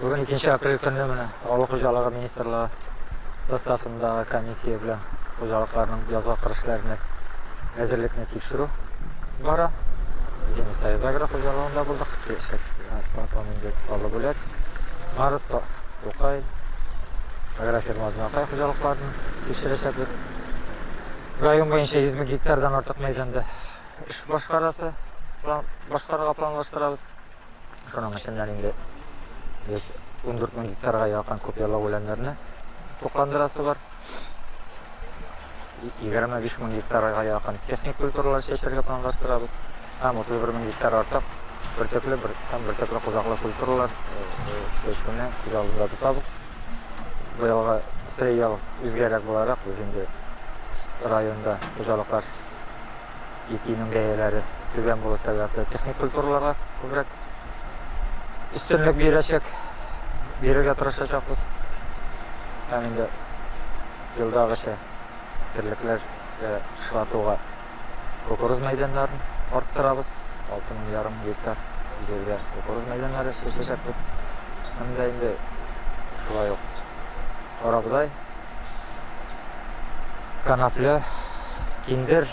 Бүген икенче апрель көне менә авыл хуҗалыгы министрлыгы составындагы комиссия белән хуҗалыкларның язга кырышларына әзерлекне тикшерү бара. Без инде Союз агро хуҗалыгында булдык, киләчәк платон инде калу бүләк. Марс, Тукай, агрофирма Знакай хуҗалыкларын тикшерәчәкбез. Район буенча 100 мең гектардан артык мәйданда Эш башкарасы, план башкарырга планлаштырабыз. Шуның эченнән инде без ундүрт мең гектарга якын куперлау үләннәрне тукландырасы бар. Егерме биш мең гектарга якын техник культуралар чәчәргә планлаштырабыз. Һәм утыз бер мең гектар артык бөртекле бер, һәм бөртекле кузаклы культуралар чәчүне күз алдында тотабыз. Быелгы сеял үзгәрәк буларак, без инде районда хуҗалыклар ипинең бәяләре түбән булу сәбәпле, техник культураларга күбрәк өстенлек бирәчәк, бирергә тырышачакбыз. Һәм инде елдагыча терлекләр кышлатуга кукуруз мәйданнарын арттырабыз. 6 мең ярым гектар җиргә кукуруз мәйданнары чәчәчәкбез. Һәм дә инде шулай ук Карабодай, канапле, киндер,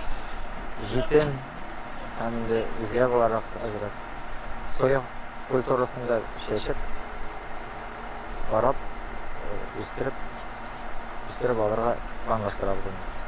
җитен һәм инде үзгә буларак әзрәк соя культурасында чәчеп, карап, үстереп, үстереп алырга планлаштырабыз аны.